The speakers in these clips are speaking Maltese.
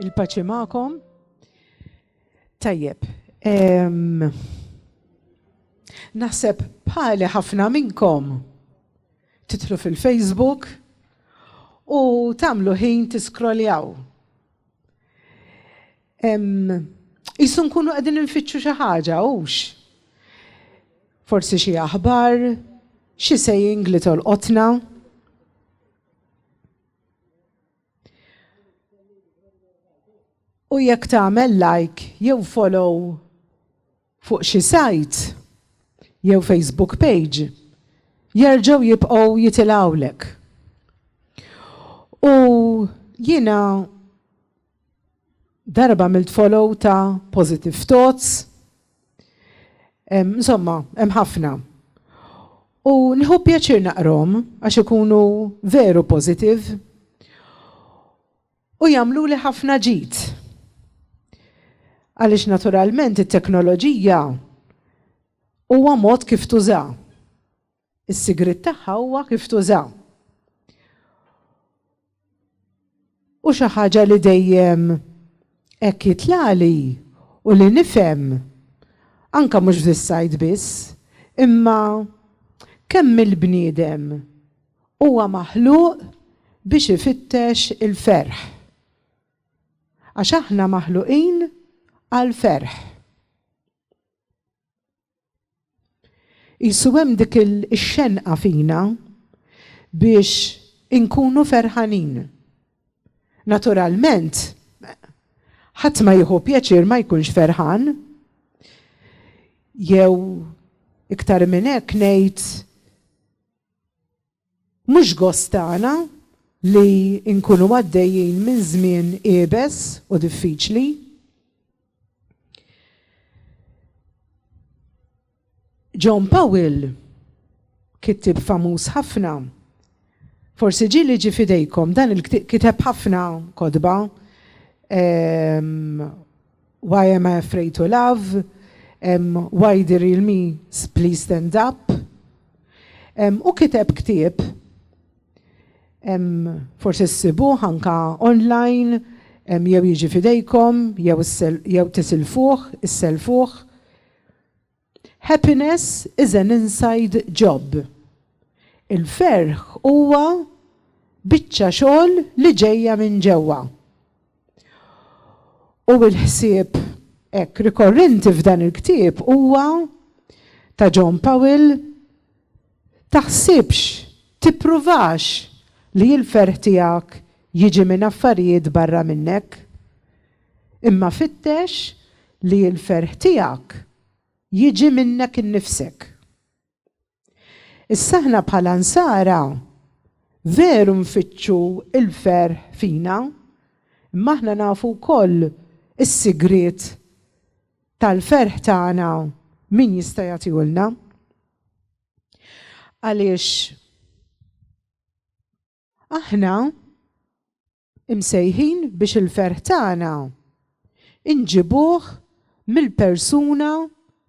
Il-paċi ma'kom. Tajjeb. Naħseb bħali ħafna minnkom titlu fil-Facebook u tamlu ħin tiskroljaw. Isu nkunu qegħdin infittxu xi ħaġa hux. Forsi xi aħbar, xi sejjing li tolqotna. U jekk tagħmel like jew follow fuq xi sajt jew Facebook page, jerġgħu jibqgħu jitilgħulek. U jiena Darba għamilt follow ta' Positive Thoughts. Insomma, hemm ħafna. U nieħu pjaċir naqrahom għax ikunu veru positive u jagħmluli ħafna ġid. Għaliex naturalment it-teknoloġija huwa mod kif tużaha. Is-sigriet tagħha huwa kif tuża. U xi ħaġa li dejjem hekk jitlagħli u li nifhem, anke mhux fis-sajd biss, imma kemm il-bniedem huwa maħluq biex ifittex il-ferħ. Għax aħna maħluqin għall-ferħ. Qisu hemm dik ix-xenqa fina biex inkunu ferħanin. Naturalment, ħadd ma jieħu pjaċir ma jkunx ferħan. Jew iktar minn hekk ngħid Mhux gost tagħna li nkunu għaddejjin minn żmien iebes u diffiċli. John Powell, kittieb famuż ħafna, forsi ġieli li ġie f'idejkom, dan il-kiteb kiteb ħafna kotba, Why am I afraid to love? um, Why the real me 's please stand up? Um, u kiteb ktieb, um, forsi ssibuh anka online, um, jew jiġi fidejkom, jew, jew tisilfuh, isselfuh. Happiness is an inside job. Il-ferħ huwa biċċa xogħol li ġejja minn ġewwa. U l-ħsieb hekk rikorrenti f'dan il-ktieb huwa ta' John Powell, Taħsibx, tippruvax li l-ferħ tiegħek jiġi minn affarijiet barra minnek. Imma fittex li l-ferħ tiegħek jiġi minnek innifsek. Issa aħna bħala Nsara veru nfittxu l-ferħ fina, imma aħna nafu wkoll is-sigriet tal-ferħ tagħna min jista' jagħtihulna. Għaliex Aħna imsejħin biex il-ferħ tagħna inġibuh mill-persuna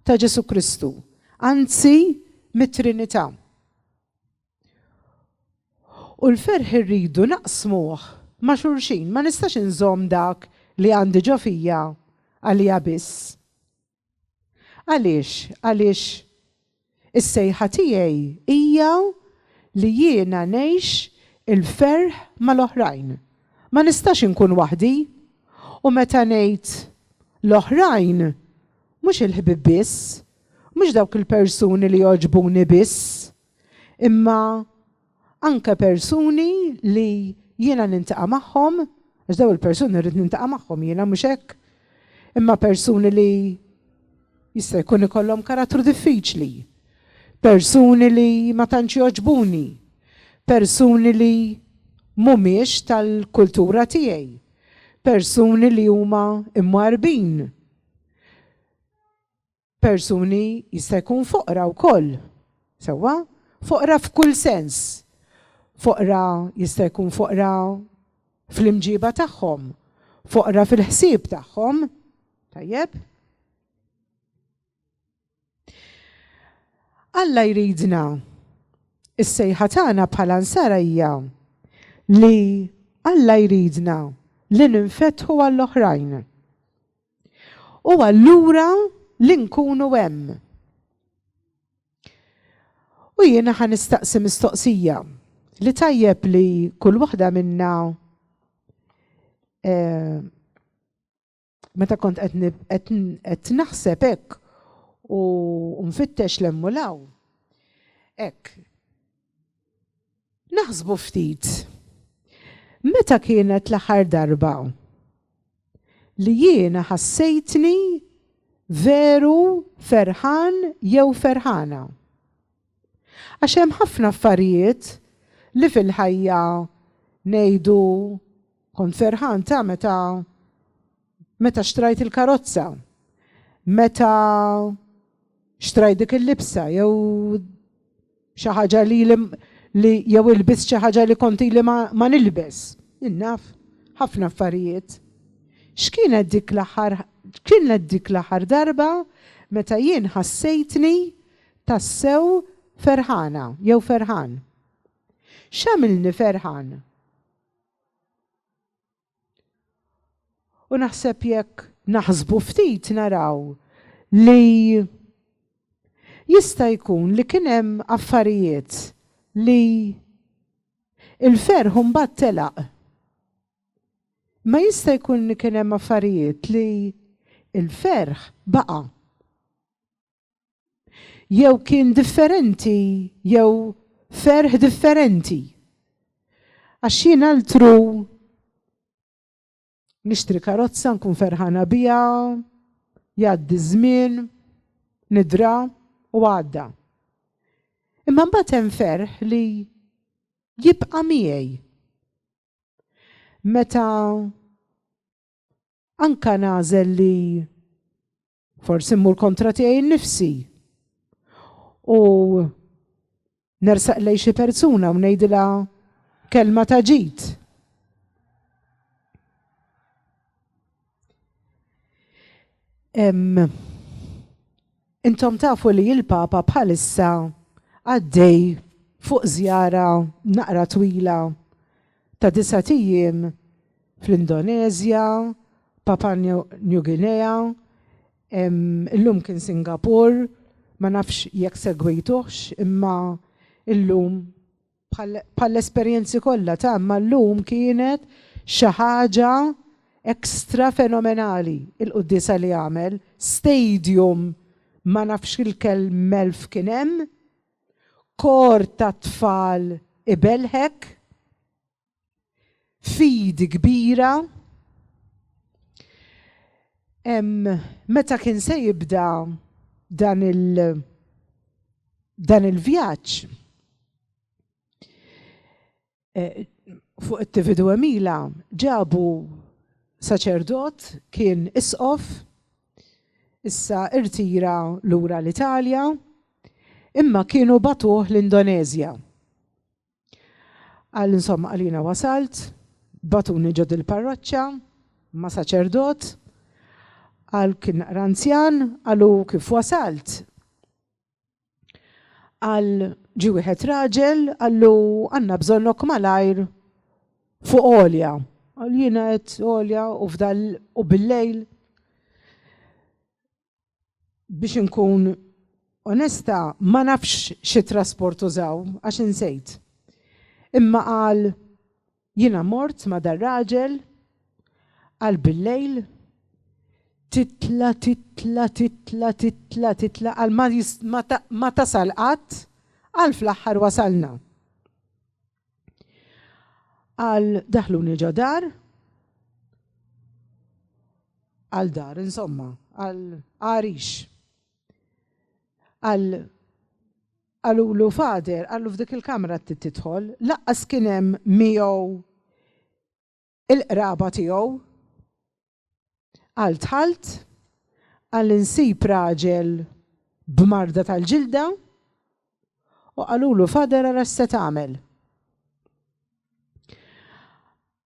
ta' Ġesu Kristu, anzi mit-Trinità. U l-ferħ irridu naqsmuh ma' xulxin, ma nistax inżomm dak li għandi ġo fija għalija biss. Għaliex? Għaliex is-sejħa tiegħi hija li jiena ngħix il-ferħ mal-oħrajn. Ma nistax inkun waħdi. U meta ngħid l-oħrajn, mhux il-ħbieb biss, mhux dawk il-persuni li jogħġbuni biss, imma Anke persuni li jiena nintaqa' magħhom, għax dawn il-persuni rrid nintaqa' magħhom jiena, mhux hekk? Imma persuni li jista' jkun ikollhom karattru diffiċli, persuni li ma tantx jogħġbuni, persuni li mhumiex tal-kultura tiegħi, persuni li huma mwarrbin. Persuni jista' jkun foqra wkoll, sewwa? Foqra f'kull sens. Foqra jista' jkun foqra fl-imġiba tagħhom, foqra fil-ħsieb tagħhom. Tajjeb? Alla jridna is-sejħa tagħna bħala nsara hija li Alla jridna li ninfetħu għall-oħrajn. U allura li nkunu hemm. U jiena ħa nistaqsi mistoqsija li tajjeb li kull waħda minna eh, meta kont qed naħseb hekk u nfittex lemmu law. Hekk, Naħsbu ftit. Meta kienet l-aħħar darba li jiena ħassejtni veru ferħan jew ferħana? Għax hemm ħafna affarijiet li fil-ħajja ngħidu kont ferħan ta' meta Meta xtrajt il-karozza, meta xtrajt dik il-libsa jew xi ħaġa li li jew ilbis xi ħaġa li konti li ma nilbes. Innaf, ħafna affarijiet. X'kienet dik l-aħħar kienet dik l-aħħar darba meta jien ħassejtni tassew ferħana jew ferħan. X'għamilni ferħan? U naħseb jekk naħsbu ftit naraw li jista' jkun li kien hemm affarijiet li l-ferħ imbagħad telaq. Imma jista' jkun li kien hemm affarijiet li l-ferħ baqa'. Jew kien differenti, jew ferħ differenti. Għax jien altru nixtri karozza nkun ferħana bija, jgħaddi żmien, nidra u għadda. Imma mbagħad hemm ferħ li jibqa' miegħi. Meta anka nażel li Forsi mmur kontra tiegħi nnifsi. U nersaq lej xi persuna u ngħidilha kelma ta' ġid. Intom tafu li il-Papa bħalissa għaddej fuq zjara naqra twila ta' disgħat ijiem fl-Indoneżja, Papua New Guinea, illum kien Singapur, ma nafx jekk segwejtuhx imma illum bħall-esperjenzi kollha ta' imma llum kienet xi ħaġa extra fenomenali il-quddiesa li għamel, stadium ma nafx il-kelm elf kien hemm Kor ta' tfal ibelħek, fidi kbira. Meta kien se jibda dan il dan il-vjaġġ, eh, fuq it-tividu Emila ġabu saċerdot kien isqof issa irtira lura l-Italja imma kienu batuh l-Indonezja. Għal insomma għalina wasalt, batuni ġod il-parroċċa, ma saċerdot, għal kien ranzjan, għalu kif wasalt. Għal ġi wieħed raġel għallu għandna bżonnok malajr fuq għolja. Għal jiena qed għolja u fdal u bil-lejl biex inkun onesta ma nafx xi trasport użaw għax insejt. Imma qal Jiena mort ma' dar-raġel għal bil-lejl, titla' titla' titla' titla' titla' għal ma tasal qatt, għal fl-aħħar wasalna. Għal daħluni ġo dar, għal dar insomma, għal għarix. Għal Qalulu, Father, qallu f'dik il-kamra qed tidħol, lanqas kien hemm miegħu il-qraba tiegħu. Qal dħalt, qal insib raġel b'marda tal-ġilda, u qalulu, Father, ara x'se tagħmel.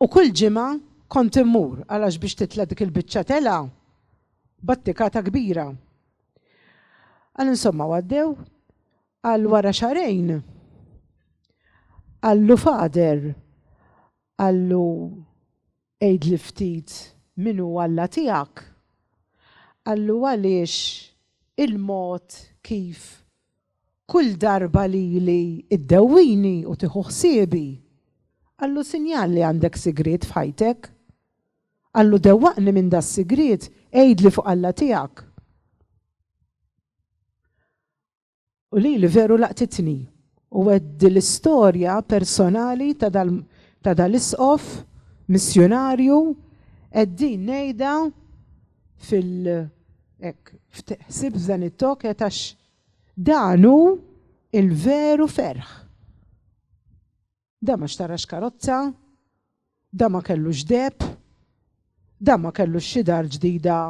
U kull ġimgħa kont immur għalax biex titla' dik il-biċċa telgħa battikata kbira. Qal insomma u għaddew, qal wara xahrejn qallu Father qallu għidli ftit min hu Alla tiegħek. Qallu għaliex il-mod kif Kull darba lili ddewwini u tieħu ħsiebi. Qallu sinjal li għandek sigriet f'ħajtek. Qallu dewwaqni minn das-sigriet, għidli fuq Alla tiegħek. U lili veru laqtitni. U għedt dil-istorja personali ta' dal-isqof missjunarju, għedt din ngħidha fil-, hekk, ħsieb f'dan it-talk għedt għax Dan hu l-veru ferħ. Dan ma xtarax karozza, dan ma kellux deheb, dan ma kellux xi dar ġdida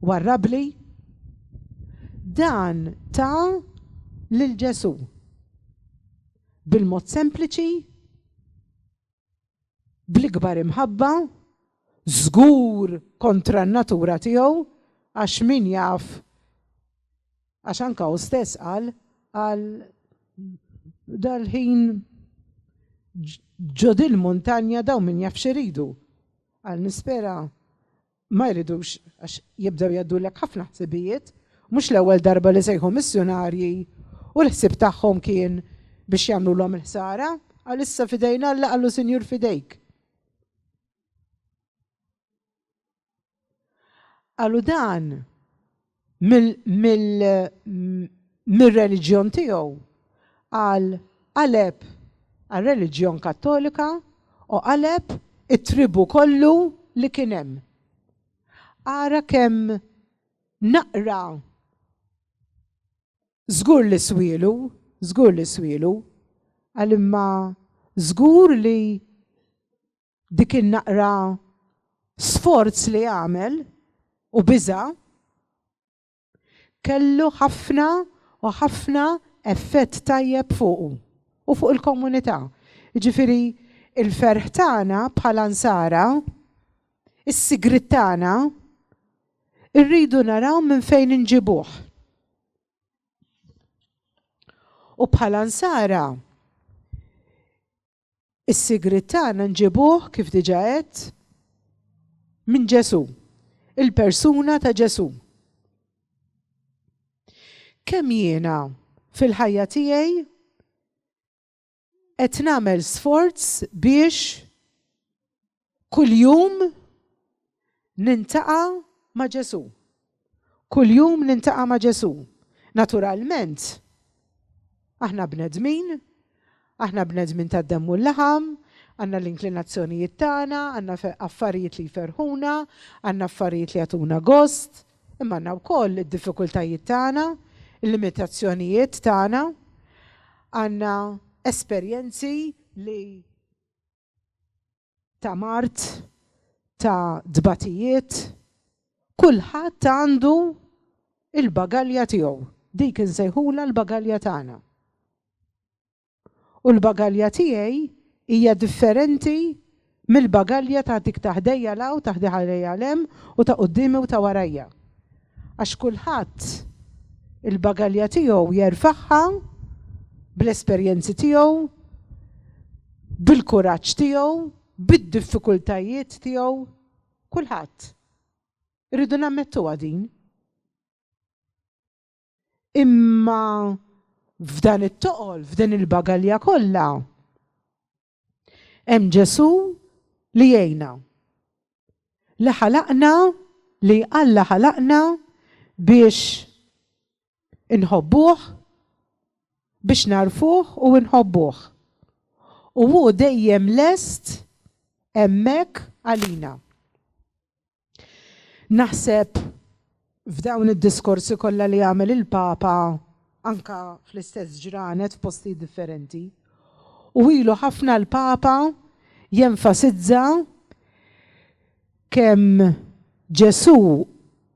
warrabli. Dan ta lil Ġesù. Bil-mod sempliċi bl-ikbar imħabba, żgur kontra n-natura tiegħu għax min jaf għax anka u stess qal għal dal-ħin ġodil montanja daw min jaf xiridu. Għal nispera Ma jridux għax jibdew jgħaddulek ħafna ħsibijiet, mhux l-ewwel darba li sejħu missjunarji u l-ħsieb tagħhom kien biex jagħmlulhom il-ħsara, qal issa f'idejn Alla qallu Sinjur f'idejk. Qalu dan mir-reliġjon tiegħu għal qaleb għar-reliġjon Kattolika u qaleb it-tribù kollu li kien hemm. Ara kemm naqra żgur li swielu, żgur li swielu, għal imma żgur li dik in-naqra sforz li għamel u biża' kellu ħafna u ħafna effett tajjeb fuqu u fuq il-komunità. Jiġifieri l-ferħ tagħna bħala Nsara, is-sigriet tagħna, irridu naraw minn fejn inġibuh. U bħala Nsara Is-sigriet tagħna nġibuh, kif diġà għedt, minn Ġesù, il-persuna ta' Ġesù. Kemm jiena fil-ħajja tiegħi qed nagħmel sforz biex kuljum nintaqa' ma' Ġesù. Kuljum nintaqa' ma' Ġesù. Naturalment, aħna bnedmin, aħna bnedmin tad-demm u l-laħam, għandna l-inklinazzjonijiet tagħna, għandna affarijiet li jferrħuna, għandna affarijiet li jagħtuna gost, imma għandna wkoll id-diffikultajiet tagħna, il-limitazzjonijiet tagħna, għandna esperjenzi li ta' mard, ta' tbatijiet, kulħadd għandu il-bagalja tiegħu. Dik insejħulha l-bagalja tagħna. U l-bagalja tiegħi hija differenti mill-bagalja ta' dik ta' ħdejja 'l hawn, ta' ħdejja 'l hemm u ta' quddiemi u ta' warajja. għax kulħadd il-bagalja tiegħu jerfagħha bl-esperjenzi tiegħu, bil-kuraġġ tiegħu, bid-diffikultajiet tiegħu, kulħadd. Irridu nammettuha din. Imma f'dan it-toqol, f'din il-bagalja kollha, Hemm Ġesù li jgħinna. Li ħalaqna li Alla ħalaqna biex inħobbuh, biex narfuh u nħobbuh. U hu dejjem lest hemmhekk għalina. Naħseb f'dawn id-diskorsi kollha li għamel il-Papa anka fl-istess ġranet f'postijiet differenti. U ilu ħafna l-Papa jenfasizza kemm Ġesù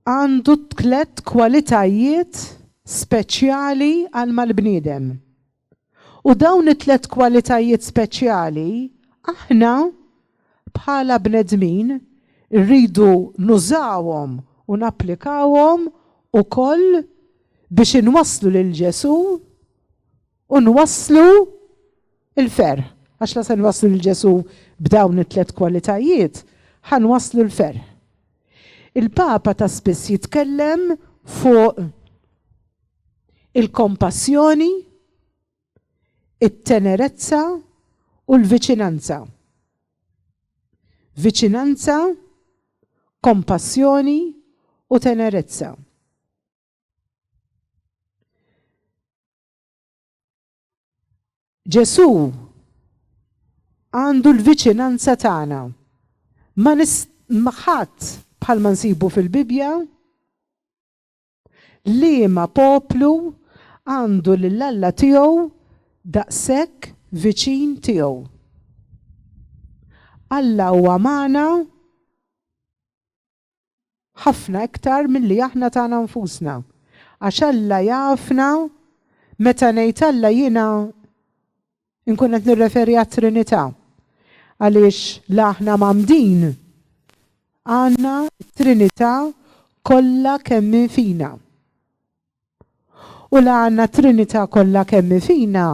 għandu tliet kwalitajiet speċjali għal mal-bniedem. U dawn it-tliet kwalitajiet speċjali aħna bħala bnedmin irridu nużawhom u napplikawhom ukoll biex inwasslu lil Ġesù u nwasslu l-ferħ. Għax la se nwasslu lil Ġesù b'dawn it-tliet kwalitajiet, ħa nwasslu l-ferħ. Il-Papa ta' spiss jitkellem fuq il-kompassjoni, it-tenerezza u l-viċinanza. Viċinanza, kompassjoni u tenerezza. Ġesu għandu l-viċinanza tagħna. Ma ħadd bħalma nsibu fil-Bibbja Liema poplu għandu lil Alla tiegħu daqshekk viċin tiegħu? Alla huwa magħna ħafna iktar milli aħna tagħna nfusna. Għax Alla jafna, meta ngħid Alla jiena Inkun qed nirreferi għat-Trinità għaliex la aħna mgħammdin għandna t-Trinità kollha kemm hi fina. U la għandna t-Trinità kollha kemm hi fina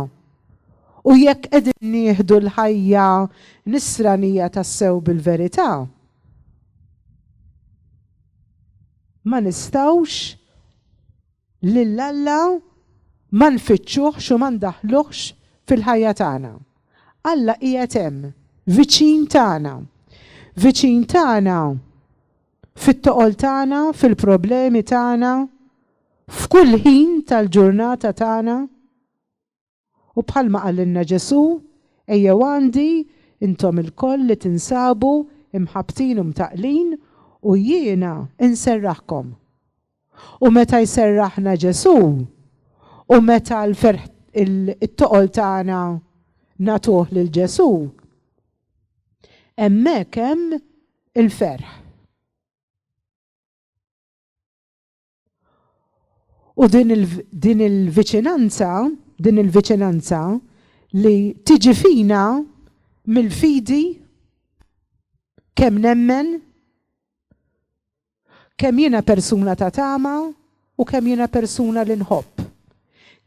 u jekk qegħdin nieħdu l-ħajja Nisranija tassew bil-verità, ma nistgħux lil Alla ma nfittxuhx u ma ndaħħluhx fil-ħajja tagħna. Alla qiegħed hemm, viċin tagħna. Viċin tagħna fit-toqol tagħna, fil-problemi tagħna, f'kull ħin tal-ġurnata tagħna. U bħalma qalilna Ġesù, Ejjew għandi, intom ilkoll li tinsabu mħabbtin u mtaqqlin, u jiena nserraħkom. U meta jserraħna Ġesù, u meta l-ferħ, it-toqol tagħna nagħtuh lil Ġesù, hemmhekk hemm il-ferħ. U din il-viċinanza, din il-viċinanza li tiġi fina mill-fidi kemm nemmen, kemm jiena persuna ta' tama u kemm jiena persuna li nħobb.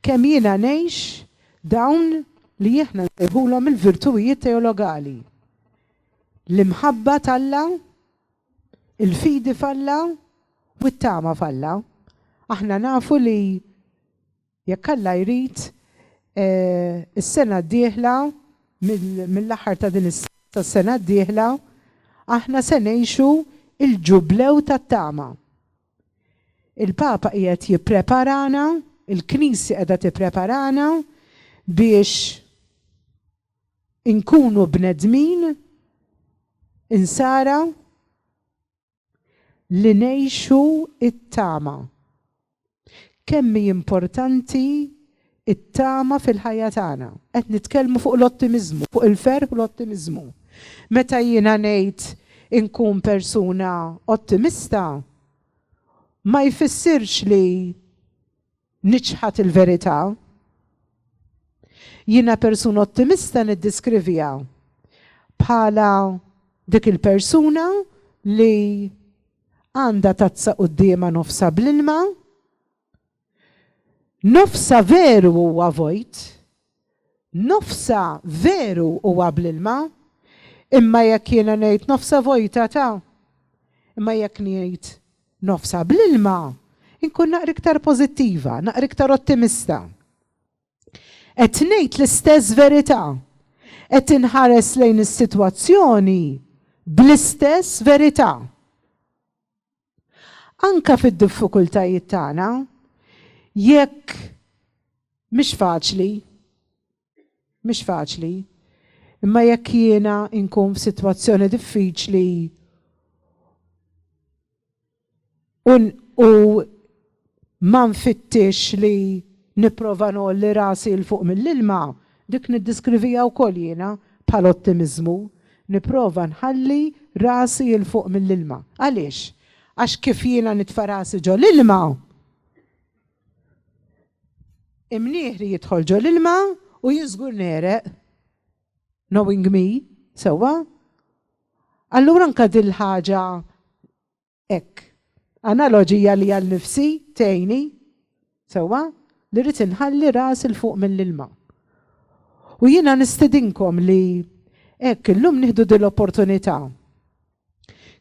Kemm jiena ngħix dawn li jihna nsejħulhom il-virtujiet teologali. L-imħabba talla Il-fidi falla u t-tama falla. Aħna nafu li jekk Alla jrid, is-sena d-dieħla, mill-aħħar ta' din is-sena sas-sena d-dieħla, aħna se ngħixu l-Ġublew tat-tama. Il-Papa qiegħed jippreparana, il-Knisja qiegħda tippreparana biex inkunu bnedmin insara li ngħixu t-tama. Kemm hi importanti t-tama fil-ħajja tagħna. Qed nitkellmu fuq l-ottimiżmu, fuq il-ferħ u l-ottimiżmu. Meta jiena ngħid inkun persuna ottimista, ma jfissirx li Niċħad il-verità. Jiena persuna ottimista niddiskrivija bħala dik il-persuna li għandha tazza quddiemha nofsa bl-ilma, nofsa veru huwa vojt, Nofsha veru huwa bl-ilma, imma jekk jiena ngħid nofsha vojta ta'. Imma jekk ngħid nofsha bl-ilma, inkun naqra iktar pożittiva, naqra iktar ottimista. Qed ngħid l-istess verità, qed inħares lejn is-sitwazzjoni bl-istess verità. Anke fid-diffikultajiet tagħna, jekk mhix faċli, mhix faċli, imma jekk jiena nkun f'sitwazzjoni diffiċli u Ma nfittixx li nipprova ngħolli rasi 'l fuq mill-ilma, dik niddiskrivija wkoll jiena bħala ottimiżmu. Nipprova nħalli rasi 'l fuq mill-ilma. Għaliex? Għax kif jiena nitfa' rasi ġo l-ilma, imnieħri jidħol ġo l-ilma u jien żgur negħreq. Knowing me, sewwa? Allura anke din l-ħaġa Hekk. Analoġija li għal nifsi tgħinni, sewwa, li rrid inħalli ras il fuq mill-ilma. U jiena nistedinkom li hekk illum nieħdu din l-opportunità.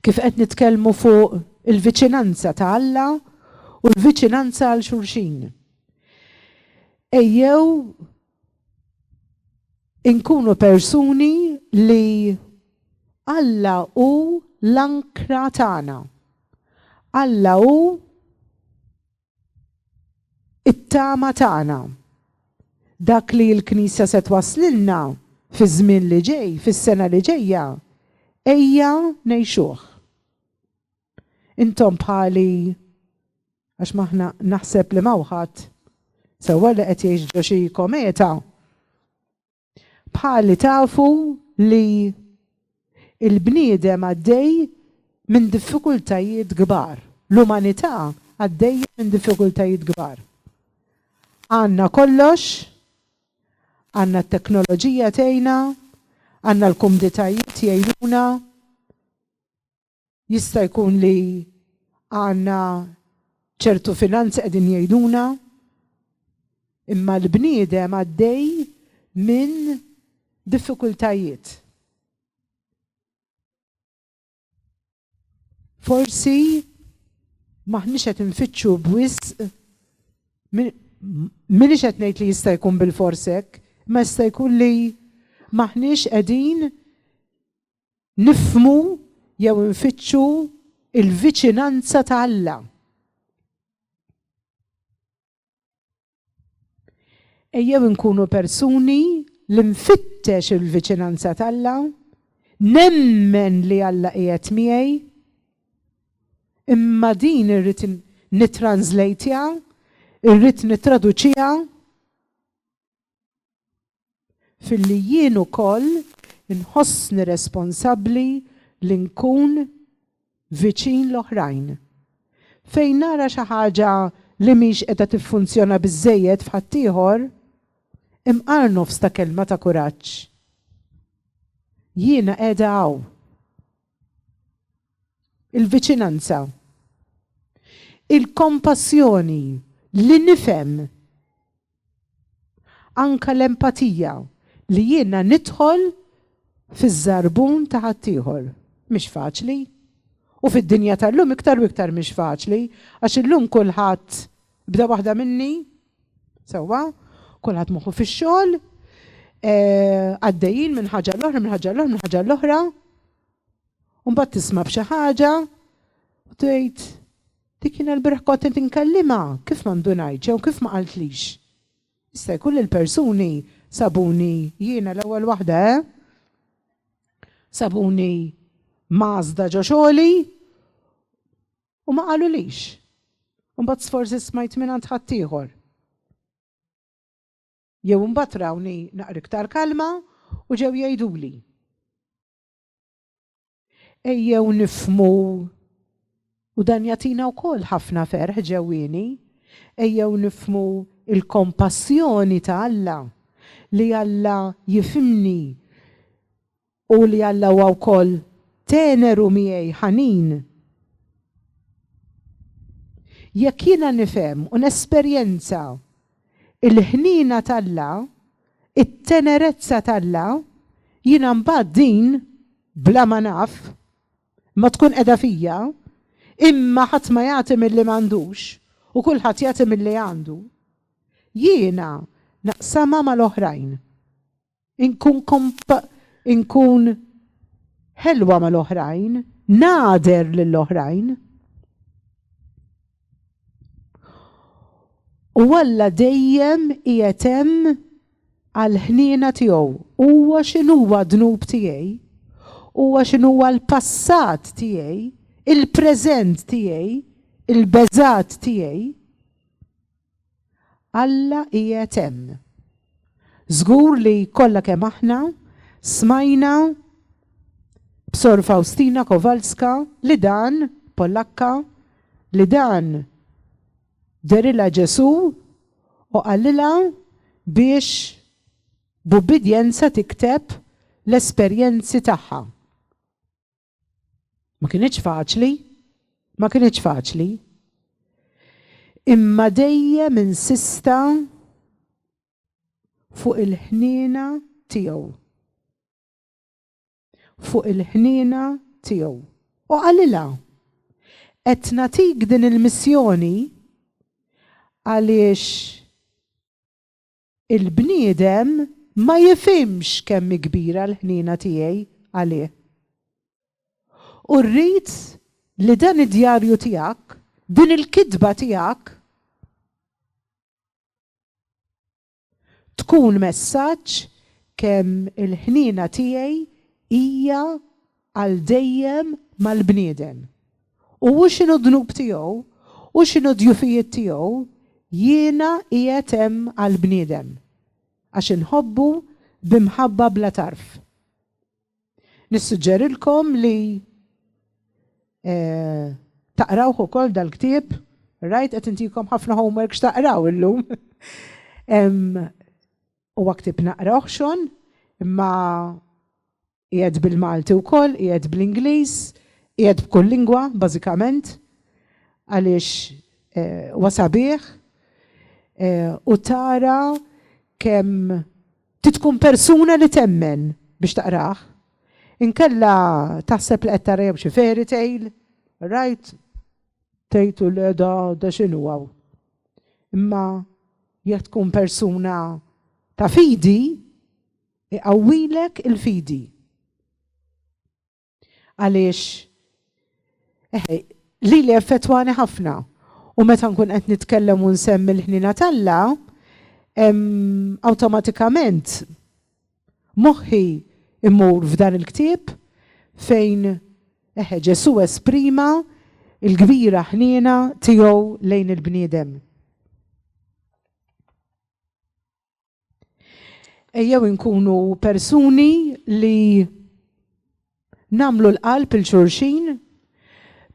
Kif qed nitkellmu fuq il-viċinanza ta' Alla u l-viċinanza għal xulxin. Ejjew Inkunu persuni li Alla hu l-ankra tagħna. Alla hu it-tama tagħna. Dak li l-Knisja se twasslilna fiż-żmien li ġej, fis-sena li ġejja, ejja ngħixuh. Intom bħali għax maħna naħseb li mawħat sewwa li qed jgħix ġo xi kometa. Bħali tafu li il-bniedem għaddej minn diffikultajiet kbar. L-umanità għaddej minn diffikultajiet kbar. Għanna kollox, għanna t-teknoloġija tejna, għanna l-kumditajiet jgħinuna, Jista' jkun li għandna ċertu finanzi qegħdin jgħiduna, imma l-bniedem għaddej minn diffikultajiet. Forsi maħniex qed infittxu b'wisq minix qed ngħid li jista' jkun bil-forsek, ma jista' jkun li maħniex qegħdin nifhmu jew infittxu il-viċinanza ta' Alla. Ejjew inkunu persuni li nfittex il-viċinanza ta' Alla, nemmen li Alla qiegħed miegħi, imma din irrid nitranslejtja, irrid nittraduċija filli jien ukoll inħossni responsabbli li nkun viċin l-oħrajn. Fejn nara xi ħaġa li mhix qiegħda tiffunzjona biżżejjed f'ħaddieħor, imqar nofs ta' kelma ta' kuraġġ. Jiena qiegħda hawn. Il-viċinanza. Il-kompassjoni li nifhem Anke l-empatija, li jiena nidħol fiż-żarbun ta' ħaddieħor, mhix faċli. U fid-dinja tal-lum iktar u iktar mhix faċli, għax illum kulħadd, b'da waħda minni, sewwa, kulħadd moħħu fix-xogħol, għaddejjin minn ħaġa għall-oħra, minn ħaġa għall-oħra, minn ħaġa għall-oħra, u mbagħad tisma' b'xi ħaġa u tgħid, Dik jiena l-bieraħ kont qed inkellimha, kif ma ndunajtx jew kif ma qaltlix? Jista' jkun li l-persuni sabuni, jiena l-ewwel waħda eh, sabuni mgħażżda ġo xogħli u ma qalulix. Imbagħad sforsi smajt mingħand ħaddieħor. Jew imbagħad rawni naqra iktar kalma u ġew jgħiduli. Ejjew nifhmu u dan jagħtina wkoll ħafna ferħ ġewwieni, ejjew nifhmu l-kompassjoni ta' Alla, li Alla jifhimni u li Alla huwa wkoll teneru miegħi, ħanin. Jekk jiena nifhem u nesperjenza l-ħniena t'Alla, it-tenerezza t'Alla, jiena mbagħad din bla ma naf, imma tkun qiegħda fija, imma ħadd ma jagħti milli m'għandux, u kulħadd jagħti milli għandu, jiena naqsamha mal-oħrajn. Inkun inkun ħelwa mal-oħrajn, nagħder lill-oħrajn. U Alla dejjem qiegħed hemm għall-ħniena tiegħu. Huwa x'inhuwa d-dnub tiegħi, huwa x'inhuwa l-passat tiegħi, il-preżent tiegħi, il-beżgħat tiegħi. Alla qiegħed hemm. Żgur li kollha kemm aħna smajna b'Sor Faustina Kowalska li dan, Polakka, li dan derilha Ġesù u qalilha biex b'ubbidjenza tikteb l-esperjenzi tagħha. Ma kienieċ faċli, ma kienieċ faċli. Imma dejjem insista fuq il-ħnina tiegħu. Fuq il-ħnina tiegħu. U qalilha, qed natik din il-missjoni għaliex Il-bniedem ma jifhimx kemm hi kbira l-ħniena tiegħi għalih. U rrid li dan id-djarju tiegħek, din il-kitba tiegħek, tkun messaġġ kemm il-ħniena tiegħi hija għal dejjem mal-bniedem, u hu x'inhu d-dnub tiegħu, hu x'inhu d-djufijiet tiegħu, jiena qiegħed hemm għall-bniedem, għax inħobbu bi mħabba bla tarf. Nissuġġerilkom li taqrawh ukoll dal-ktieb, rajt qed intikom ħafna homework x'taqraw illum. Huwa ktieb naqrawh xogħol, imma Qiegħed bil-Malti wkoll, qiegħed bl-Ingliż, qiegħed b'kull lingwa bażikament għaliex huwa sabiħ u tara kemm trid tkun persuna li temmen biex taqrah. Inkella taħseb li qed tara jew xi fairy tale, rajt, tgħid u le da da x'inhu hawn. Imma jekk tkun persuna ta' fidi, Iqawwilek il-fidi. Għaliex eħe, lili effettwani ħafna u meta nkun qed nitkellem u nsemmi l-ħnina t'Alla, awtomatikament moħħi imur f'dan il-ktieb fejn eħe Ġesu esprima il-kbira ħniena tiegħu lejn il-bniedem. Ejjew inkunu persuni li namlu l-qalb il-xurxin,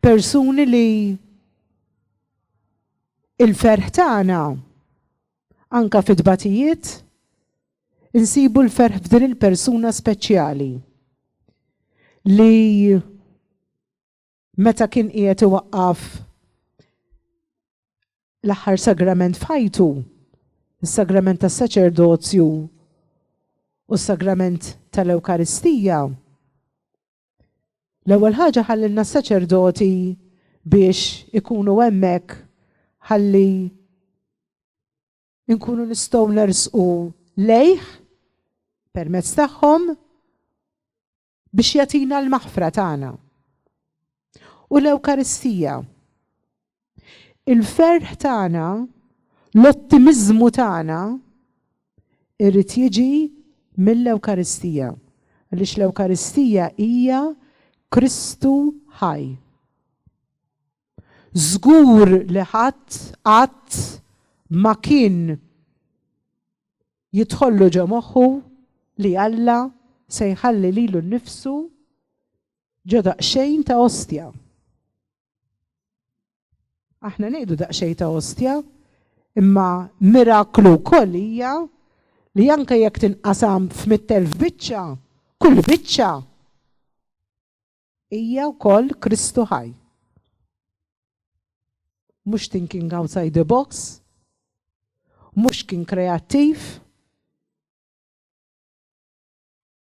persuni li il-ferħ tagħna anka fit-tbatijiet insibu l-ferħ f'din il-persuna speċjali li meta kien qiegħed iwaqqaf l-aħħar sagrament f'ħajtu, is-sagrament tas-saċerdozju u s-sagrament tal-Ewkaristija. L-ewwel ħaġa ħallilna s-saċerdoti biex ikunu hemmhekk ħalli nkunu nistgħu nersqu lejh permezz tagħhom biex jagħtina l-maħfra tagħna. U l-Ewkaristija. Il-ferħ tagħna, l-ottimiżmu tagħna irrid jiġi mill-Ewkaristija. Għaliex l-Ewkaristija hija Kristu ħaj. Żgur li ħadd qatt ma kien Jidħollu ġo moħħu li Alla se jħalli lilu nnifsu ġo daqsxejn ta' ostja. Aħna ngħidu daqsxejn ta' ostja, imma miraklu wkoll hija li anke jekk tinqasam f'mitt elf biċċa, kull biċċa Hija wkoll Kristu ħaj. Mhux thinking outside the box, mhux kien kreattiv.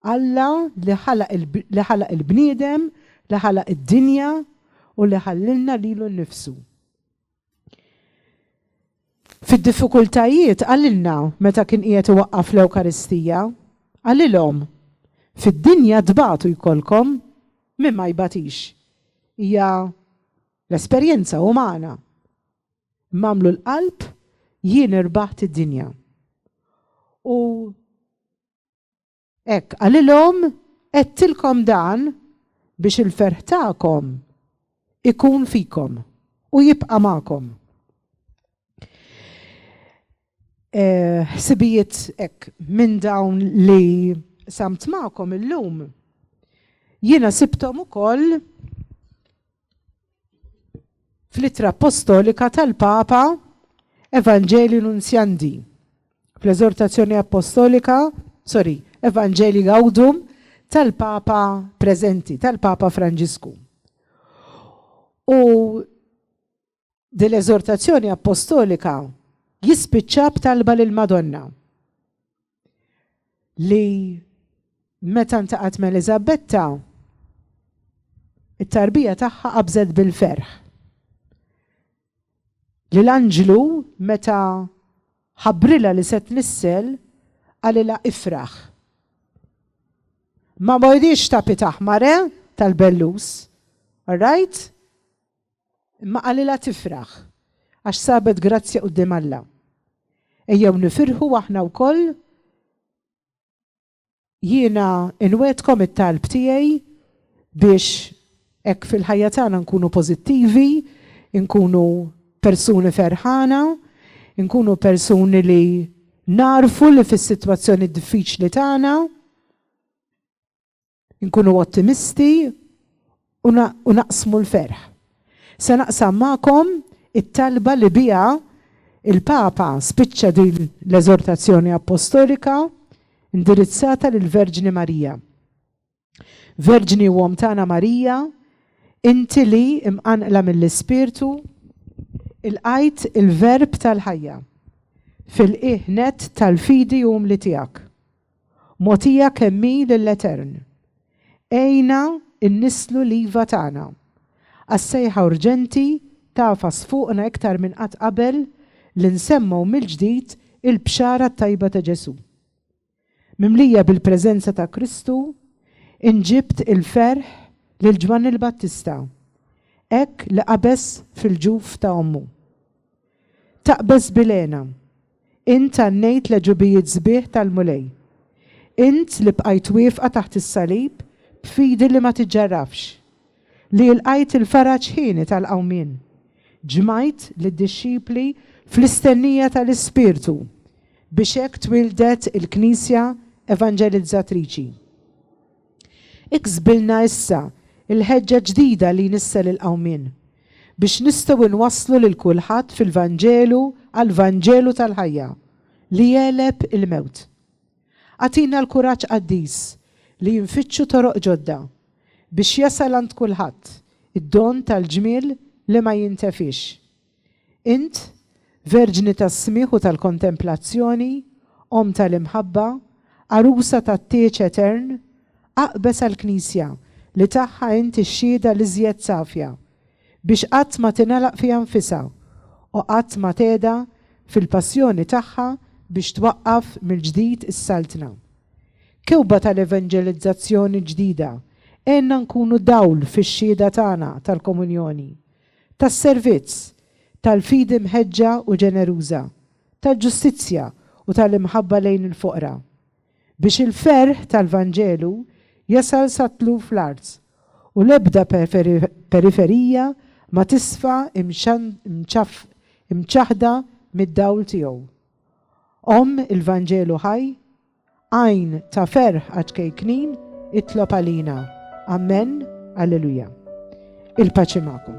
Alla li ħalaq li ħalaq il-bniedem, li ħalaq id-dinja u li ħallilna lilu nnifsu. Fid-diffikultajiet qalilna meta kien qiegħed iwaqqaf l-Ewkaristija, qalilhom, Fid-dinja tbatu jkollkom, min ma jbatix. Hija l-esperjenza umana. Imma għamlu l-qalb jien irbaħt id-dinja. U Hekk qalilhom, Għedtilkom dan biex il-ferħ tagħkom ikun fikom u jibqa' magħkom. Ħsibijiet hekk minn dawn li samt magħkom illum jiena sibthom ukoll fl-Ittra Appostolika tal-Papa Evangelii Nuntiandi, fl-Eżortazzjoni Appostolika, sorry, Evangelii Gaudium tal-Papa preżenti, tal-Papa Franġisku. U Din l-eżortazzjoni appostolika jispiċċa b'talba lil Madonna li meta ntaqat ma' Elizabetta it-tarbija tagħha qabżet bil-ferħ. Li l-anġlu meta ħabrila li set nissel għalila ifraħ. Ma bojdiċ ta' pitaħ mare tal-bellus. Alright? Imma qalilha tifraħ għax sabet grazzja quddiem Alla. Ejjew nifirħu aħna wkoll Jiena inwegħedkom it-talb tiegħi biex hekk fil-ħajja tagħna nkunu pożittivi, inkunu persuni ferħana, inkunu persuni li nagħrfu li fis-sitwazzjoni diffiċli tagħna, Nkunu ottimisti u naqsmu l-ferħ. Se naqsam magħkom it-talba li biha l-Papa spiċċa din l-eżortazzjoni appostolika indirizzata lill-Verġni Marija. Verġni u Omm tagħna Marija, inti li imqanqla mill-Ispirtu, ilqajt il-Verb tal-ħajja fil-qiegħ nett tal-fidi umli tiegħek. Mogħtija kemm hi lill-Etern. Għinna nnisslu l-iva tagħna għas-sejħa urġenti tagħfas fuqna iktar minn qatt qabel li nsemmgħu mill-ġdid il-Bxara t-Tajba ta' Ġesù. Mimlija bil-preżenza ta' Kristu, inġibt il-ferħ lil Ġwanni l-Battista, hekk li qabeż fil-ġuf ta' ommu. Taqbeż bil-hena. Int għannejt l-għeġubijiet sbieħ tal-Mulej. Int li bqajt wieqfa taħt is-salib b'fidi li ma tiġġarrafx. Li ilqajt il-faraġ hieni tal-qawmien. Ġmajt lid-dixxipli fl-istennija tal-Ispirtu biex hekk twieldet il-Knisja evanġelizzatriċi. Iksbilna issa l-ħeġġa ġdida li jnissel il-qawmien, biex nistgħu nwasslu lil kulħadd fil-Vanġelu għall-Vanġelu tal-ħajja, li jegħleb il-mewt. Agħtina l-kuraġġ qaddis li nfittxu toroq ġodda, biex jasal għand kulħadd id-don tal-ġmiel li ma jintefiex. Int, Verġni tas-smigħ u tal-kontemplazzjoni, Omm tal-imħabba, Għarusa tat-tieġ etern, aqbeż għall-Knisja, li tagħha int ix-xhieda l-iżjed safja, biex qatt ma tingħalaq fiha nfisha, u qatt ma tgħedha fil-passjoni tagħha biex twaqqaf mill-ġdid is-Saltna. Kewba tal-evanġelizzazzjoni ġdida, għenna nkunu dawl fix-xhieda tagħna tal-komunjoni, tas-servizz, tal-fidi mħeġġa u ġeneruża, tal-ġustizzja u tal-imħabba lejn il-foqra, biex il-ferħ tal-Vanġelu jasal sat-tluf l-art u l-ebda periferija ma tisfa' imċaħħda mid-dawl tiegħu. Omm il-Vanġelu ħaj, Għajn ta' ferħ għaċ-ċkejknin itlob għalina. Amen, Alleluja. Il-paċi magħkom.